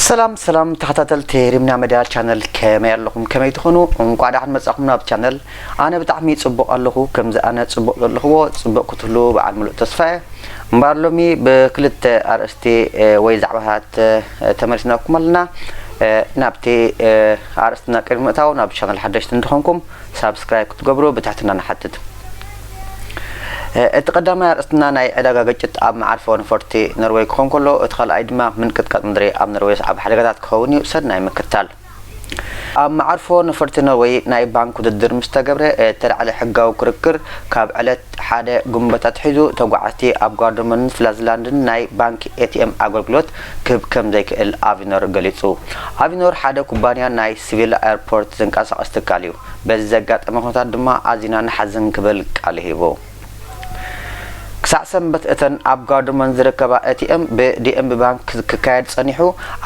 ሰላም ሰላም ተኸታተልቲ ሪምና መድያ ቻነል ከመይ ኣለኹም ከመይ ትኾኑ እንኳዕ ደሓን መጻኹም ናብ ቻነል ኣነ ብጣዕሚ ጽቡቕ ኣለኹ ከምዚ ኣነ ጽቡቕ ዘለኽዎ ጽቡቕ ክትህሉ በዓል ሙሉእ ተስፋ እየ እምበር ሎሚ ብክልተ ኣርእስቲ ወይ ዛዕባታት ተመሊስናኩም ኣለና ናብቲ ኣርእስትና ቅድሚ ምእታው ናብዚ ቻነል ሓደሽቲ እንተኾንኩም ሳብስክራይብ ክትገብሩ ብትሕትና ንሓትት። እቲ ቀዳማይ ኣርእስትና ናይ ዕዳጋ ግጭት ኣብ መዓርፎ ነፈርቲ ኖርወይ ክኾን ከሎ እቲ ካልኣይ ድማ ምንቅጥቃጥ ምድሪ ኣብ ኖርወይ ዘስዓቦ ሓደጋታት ክኸውን እዩ፣ ሰናይ ምክትታል። ኣብ መዓርፎ ነፈርቲ ኖርወይ ናይ ባንክ ውድድር ምስ ተገብረ እተላዕለ ሕጋዊ ክርክር ካብ ዕለት ሓደ ግንቦት ኣትሒዙ ተጓዓዝቲ ኣብ ጋርደርሞንን ፍላዝላንድን ናይ ባንክ ኤቲኤም ኣገልግሎት ክህብ ከም ዘይክእል ኣቪኖር ገሊጹ። ኣቪኖር ሓደ ኩባንያ ናይ ሲቪላ ኤርፖርት ዘንቀሳቕስ ትካል እዩ። በዚ ዘጋጠመ ኩነታት ድማ ኣዚና ንሓዝን ክብል ቃሉ ሂቡ። ክሳዕ ሰንበት እተን ኣብ ጋዱመን ዝርከባ ኤቲኤም ብዲኤምቢ ባንክ ክካየድ ጸኒሑ፣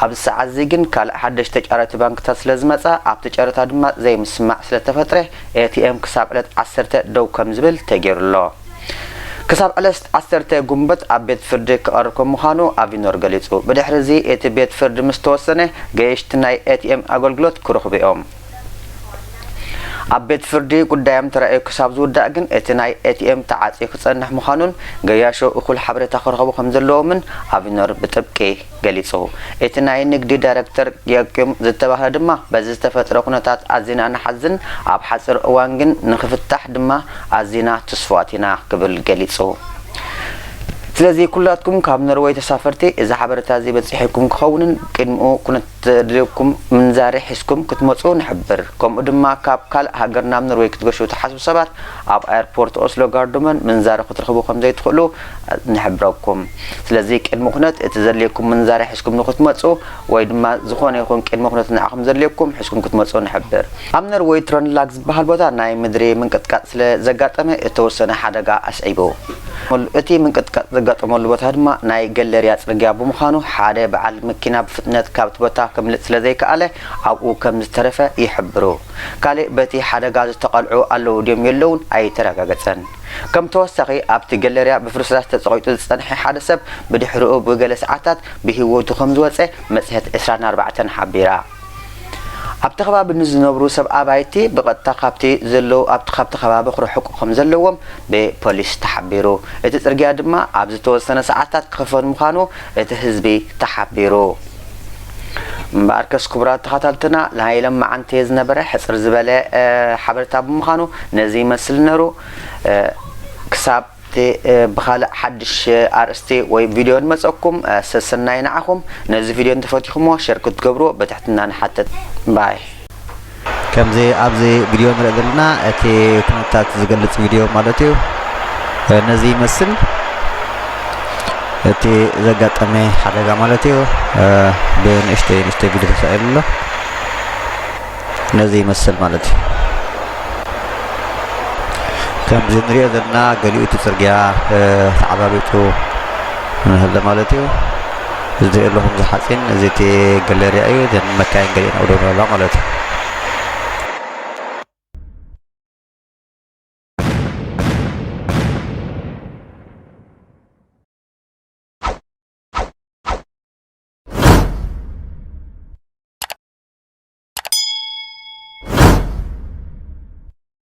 ኣብዚ ሰዓት'ዚ ግን ካልእ ሓደሽቲ ተጫረቲ ባንክታት ስለዝመጻ ኣብቲ ጨረታ ድማ ዘይምስምማዕ ስለተፈጥረ ኤቲኤም ክሳብ ዕለት ዓሰርተ ደው ከምዝብል ተጌሩ'ሎ። ክሳብ ዕለስት ዓሰርተ ጉንበት ኣብ ቤት ፍርዲ ክቐርብ ከም ምዃኑ ኣቪኖር ገሊጹ። ብድሕሪ እዚ እቲ ቤት ፍርዲ ምስ ተወሰነ ገየሽቲ ናይ ኤቲኤም ኣገልግሎት ክረኽቡ እዮም። ኣብ ቤት ፍርዲ ጉዳዮም ተራእዩ ክሳብ ዝውዳእ ግን እቲ ናይ ኤቲኤም ተዓጽዩ ክጸንሕ ምዃኑን ገያሾ እኹል ሓበሬታ ክረኽቡ ከም ዘለዎምን ኣቪኖር ብጥብቂ ገሊጹ። እቲ ናይ ንግዲ ዳይረክተር ዮኪም ዝተባህለ ድማ በዚ ዝተፈጥረ ኩነታት ኣዚና ንሓዝን ኣብ ሓጺር እዋን ግን ንኽፍታሕ ድማ ኣዚና ትስፉዋት ኢና ክብል ገሊጹ። ስለዚ ኩላትኩም ካብ ኖርወይ ተሳፈርቲ እዚ ሓበሬታ እዚ በጺሒኩም ክኸውንን ቅድሚኡ ኩነትዘድልየኩም ምንዛሬ ሒዝኩም ክትመጹ ንሕብር። ከምኡ ድማ ካብ ካልእ ሃገር ናብ ኖርወይ ክትገሹ ትሓስቡ ሰባት ኣብ ኣየርፖርት ኦስሎ ጋርዶመን ምንዛሬ ክትረኽቡ ከምዘይትኽእሉ ንሕብረኩም ስለዚ ቅድሚ ኩነት እቲ ዘድልየኩም ምንዛሬ ሕዝኩም ንክትመጹ ወይ ድማ ዝኮነ ይኩን ቅድሚ ኩነት ንዓኩም ዘድልየኩም ሕዝኩም ክትመጹ ንሕብር። ኣብ ነርወይ ትረንላግ ዝበሃል ቦታ ናይ ምድሪ ምንቅጥቃጥ ስለ ዘጋጠመ እተወሰነ ሓደጋ ኣስዒቡ። እቲ ምንቅጥቃጥ ዘጋጠመሉ ቦታ ድማ ናይ ገለርያ ጽርግያ ብምዃኑ ሓደ በዓል መኪና ብፍጥነት ካብቲ ቦታ ከምልጥ ስለ ዘይከኣለ ኣብኡ ከም ዝተረፈ ይሕብሩ። ካልእ በቲ ሓደጋ ዝተቐልዑ ኣለዉ ድዮም የለዉን ኣይተረጋገጸን። ከም ተወሳኺ፣ ኣብቲ ገለርያ ብፍርስራስ ተጸቒጡ ዝጸንሐ ሓደ ሰብ ብድሕረኡ ብገለ ሰዓታት ብህይወቱ ከም ዝወጸ መጽሔት ዕስራን ኣርባዕተን ሓቢራ። ኣብቲ ከባቢ ንዝነብሩ ሰብ ኣባይቲ ብቐጥታ ካብቲ ዘለዉ ኣብቲ ካብቲ ከባቢ ክርሕቁ ከም ዘለዎም ብፖሊስ ተሓቢሩ። እቲ ጽርግያ ድማ ኣብ ዝተወሰነ ሰዓታት ክኽፈት ምዃኑ እቲ ህዝቢ ተሓቢሩ። እምበኣርከስ ክቡራት ተኻታልትና ናይ ለማዓንቲ ዝነበረ ሕጽር ዝበለ ሓበረታ ብምኻኑ ነዚ ይመስል ነሩ ክሳብ ብኻልእ ሓድሽ ኣርእስቲ ወይ ቪድዮ ንመጸኩም ሰሰናዩ ንዓኹም ነዚ ቪድዮ እንተፈቲኹሞ ሸር ክትገብርዎ በትሕትና ንሓትት ባይ ከምዚ ኣብዚ ቪድዮ ንሪኦ ዘለና እቲ ኩነታት ዝገልፅ ቪድዮ ማለት እዩ ነዚ ይመስል እቲ ዘጋጠመ ሓደጋ ማለት እዩ ብንእሽተይ ንእሽተይ ቪድዮ ተሳኢሉ ኣሎ ነዚ ይመስል ማለት እዩ ከምዚ ንሪኦ ዘለና ገሊኡ እቲ ፅርግያ ተዓባቢጡ ንህለ ማለት እዩ እዚ ትሪኦ ኣለኹም እዚ ሓፂን እዚ እቲ ገለርያ እዩ እዘን መካይን ገሊኤን ኣብኡ ደው ኣለዋ ማለት እዩ